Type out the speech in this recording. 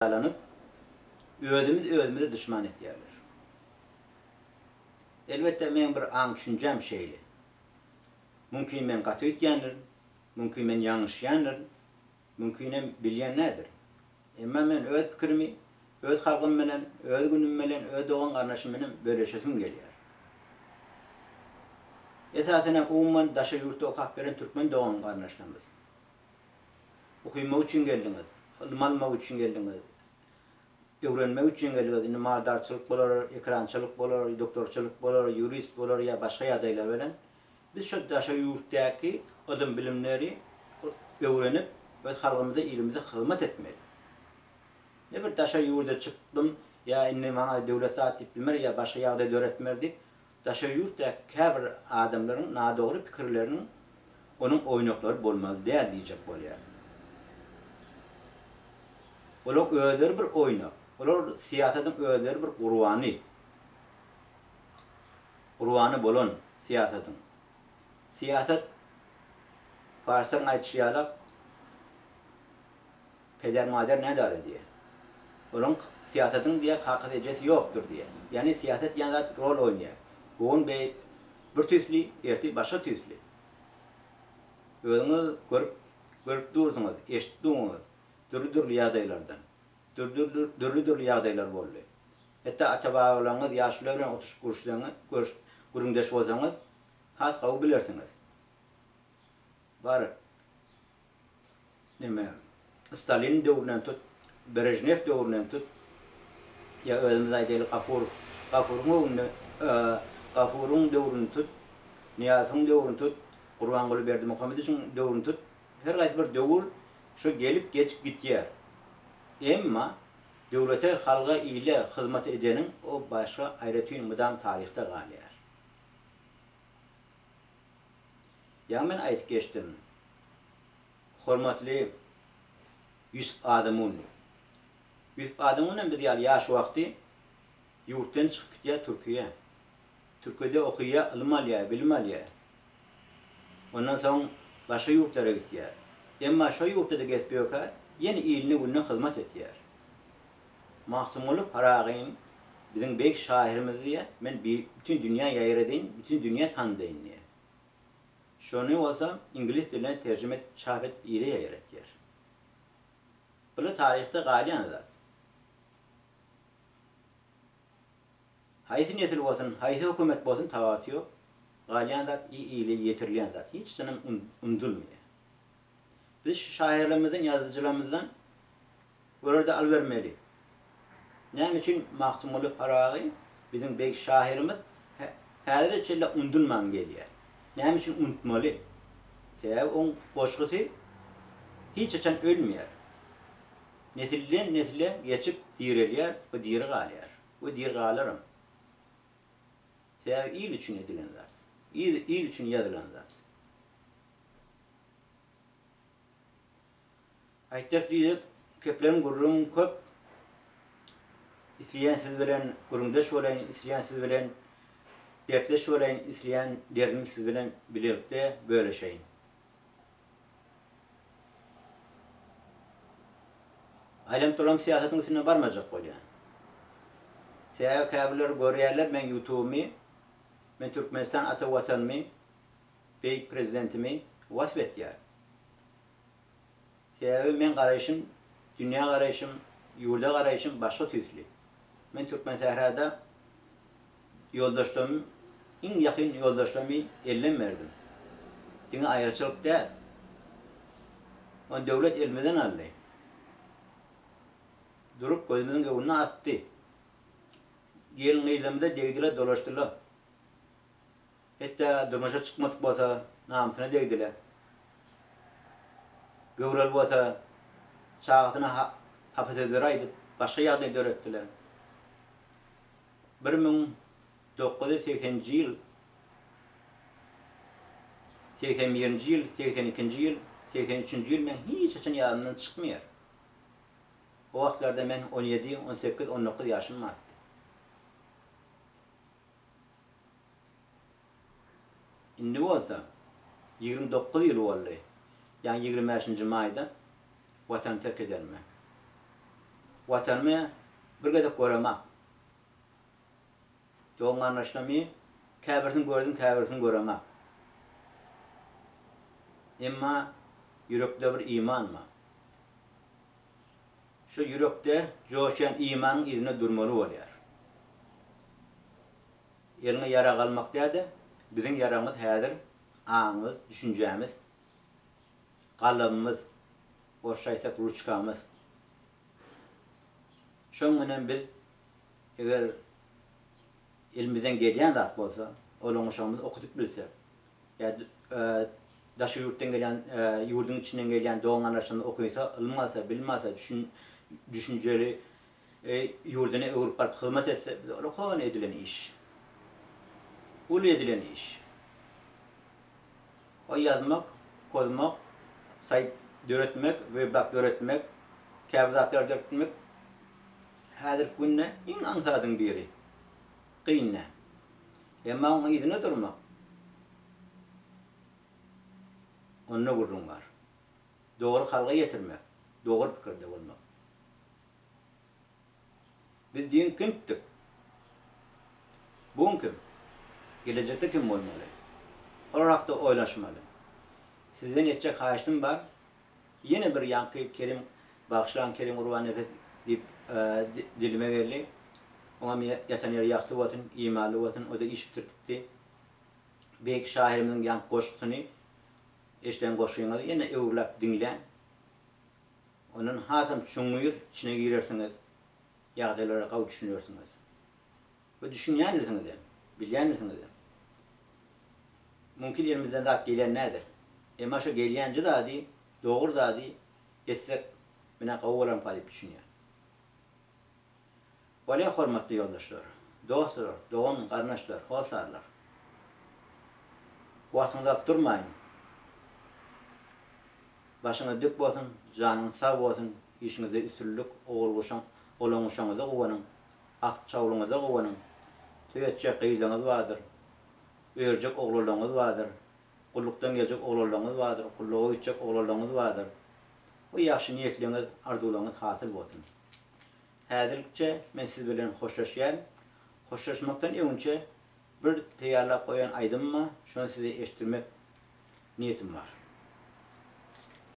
peýdalanyp, özümiz özümize duşman etýärler. Elbetde, meň bir aň-düşünjäm şeýle. Mümkin men gaty öýtýändirin, mümkin men ýalňyşýandyrin, mümkinem bilýän näderin. Emma men öz pikirimi öz halgym bilen, öz günüm bilen, öz dogan-garyndaşym bilen bölüşesim gelýär. Esasanam umuman daşary ýurtda okap ýören türkmen dogan-garyndaşlarymyz. Okymak üçin geldiňiz, ylym almak üçin geldiňiz, öwrenmek üçin geldiňiz, indi maldarçylyk bolar, ekrançylyk bolar, doktorçylyk bolar, ýurist bolar ýa başga ýagdaýlar bilen biz şo daşary ýurtdaky ylym-bilimleri öwrenip, öz halkymyza, ilimize hyzmat etmeli. Ne bir daşary ýurda çykdym ýa indi maňa döwlet zat diýip bilmer ýa başga ýagdaý döretmer diýip, Daşary ýurtdaky käbir adamlaryň nadogry pikirleriniň onuň oýnaklary bolmaly däl diýjek bolýar. Olaryň özleri bir oýnak. Olar syýasatyň özleri bir gurbany. Gurbany bolan syýasatyň. Syýasat, parslaryň aýdyşy ýalak, Peder-mader nädar edýä. Olaň syýasatyň diýä kakasy-ejesi ýokdur diýä. Ýagny syýasat diýen zat rol oýnaýa. Bu gün beý bir tüýsli, ertir başga tüýsli. Özüňiz görüp görüp dursuňyz, eşidip duňyz, dürli-dürli ýagdaýlardan. Dürli dürli-dürli ýagdaýlar boldy. Hetda ata-babalaryňyz ýaşular bilen otuşyp gürüşseň görüş gürrüňdeş bolsaňyz, has gowy bilersiňiz. Bar. Näme, Staliniň döwründen tut, Brežnew döwründen tut, ýa özümiz aýdaýly Gafur, Gafuryň öwründe, Gafuryň döwrüni tut, Nyýazowyň döwrüni tut, Gurbanguly Berdimuhamedowyçiň döwrüni tut, her haýsy bir döwür şo gelip geçip gitýär. Emma döwlete, halga, ile hyzmat edeniň o başga aýratyn mydam taryhda galýar. Ýa men aýdyp geçdim. Hormatly Ýusup Adamun. Ýusup Adamun hem biz ýaly ýaş wagty ýurtdan çykyp gitýär Türkiýä. Türkiýede okaýar, ylym alýar, bilim alýar. Ondan soň başga ýurtlara gitýär. Emma şo ýurtda-da gezip ýörkä, ýene iline-gününe hyzmat etýär. Magtymguly Pyragyny biziň beýik şahyrymyz diýýär, men bütin dünýä ýaýradyn, bütin dünýä tandyn diýýär. Şony bolsa iňlis diline terjime edip çap edip ile ýaýratýar. Bular taryhda galýan zat. Haýsy nesil bolsun, haýsy hökümet bolsun tabaty ýok, galýan zat ile ýetirilýän zat, hiç zanam unudylmaýar. Biz şu şaýyrlarymyzdan, ýazyjylarymyzdan olarda al bermeli. Näme üçin Magtymguly Pyragy biziň beýik şahyrymyz häzire çenli undulman gelýär? Näme üçin untmaly? Sebäbi oň goşgusy hiç haçan ölmeýär. Nesilden nesle geçip direlýär we diri galýar we diri galaram. Sebäbi il üçin edilen zat. Il üçin ýazylan zat. Aýtjak düýek, keplen gürrüň köp, Isleýän siz bilen gürrüňdeş bolaýyn, Isleýän siz bilen dertleş bolaýyn, Isleýän derdimi siz bilen bilelikde böleşeýin. Aýlanyp-dolanyp syýasatyň üstünden barmajak bolýan. Sebäbi käbirleri görýärler meň ýutubymy, men Türkmenistan ata Watanymy, Beýik Prezidentimi wasp etýär. Sebäbi meň garaýşym, dünýä garaýşym, ýurda garaýşym başga tüýsli. Men Türkmensährada ýoldaşlarym, iň ýakyn ýoldaşlarymy ellem berdim. Diňe aýraçylyk däl. Ony döwlet elimizden aldy. Durup gözümiziň öňüne atdy. Gelin-gyzlarymyza degdiler, dolaşdylar. Hetda durmuşa çykmadyk bolsa namysyna degdile. Göwreli bolsa çagasyna hapa sözleri aýdyp başga ýagdaý döretdile. Bir müň dokuz ýüz segsen nji ýyl, segsen birinji ýyl, segsen ikinji ýyl, segsen üçünji ýyl meň hiç haçan ýadymdan çykmaýar. O wagtlarda men on ýedi, on sekiz, on dokuz ýaşym bardy. Indi bolsa ýigrimi dokuz ýyl boldy, ýaňy ýigrimi bäşinji maýda Watany terk edenime. Watanymy bir gezek göremok. Dogan-garyndaşlarymy käbirisini gördüm, käbirisini göremok. Emma ýürekde bir iman bar. Şol ýürekde joşýan imanyň yzynda durmaly bolýar. Eliňe ýarag almak däde, biziň ýaragymyz häzir aňymyz, düşünjämiz, galamymyz, orsça aýtsak ruçkamyz. Şoň menem biz eger elimizden gelýän zat bolsa, olaň uşagymyz okudyp bilse, ýa daşary ýurtdan gelýän, ýurduň içinden gelýän dogan-gardaşlarymyz okynsa, ylym alsa, bilim alsa, düşün düşünjeli ýurduna öwrüp baryp hyzmat etse, bize ulkan edilen iş. Uly edilen iş. O ýazmak, pozmak, saýt döretmek, weblog döretmek, käbir zatlar döretmek häzirki günde iň aňsadyň biri. Kyn dä. Emma oň yzyna durmak, onda gürrüň bar. Dogry halga ýetirmek, dogry pikirde bolmak. Biz düýn kimdik? Bu gün kim? Gelejekde kim bolmaly? Olar hakda oýlanyşmaly. Sizden etjek haýyştym bar, ýene bir ýaňky Kerim bagşylaň Kerim Gurbanepes diýip dilime geldi. Oňam ýatan ýeri ýagty bolsun, imanly bolsun, o-da iş bitirtipdi. Beýik şahyrymyzyň ýaňky goşgusyny eşiden goşgyňyzy ýene öwürläp diňläň. Ondan hasam çuňňur içine girersiňiz, ýagdaýlara gawy düşünersiňiz. We düşünýändirsiňizem, bilýändirsiňizem. Mümkin elimizden zat gelýän däldir. Emma şo gelýänji zady, dogry zady etsek, menä gowy bolarmyka diýip düşünýän. Bolýa hormatly ýoldaşlar, dostlar, dogan garyndaşlar, hossarlar. Wagtyňyzy alyp durmaýyn. Başyňyz dik bolsun, janyňyz sag bolsun, işiňizde üstünlik, ogul-guşuň, golaňguşaňyza guwanyň, at çawluňyza guwanyň, toý etjek gyzlaňyz bardyr, örjek oglanlaňyz bardyr, gullukdan geljek oglanlaňyz bardyr, gulluga gitjek oglanlaňyz bardyr. Bu ýagşy niýetleňiz, arzuwlaňyz hasyl bolsun. Häzirlikçe men siz bilen hoşlaşýan. Hoşlaşmakdan öňünçä bir teýýarlap goýan aýdymym bar, şony size eşitdirmek niýetim bar.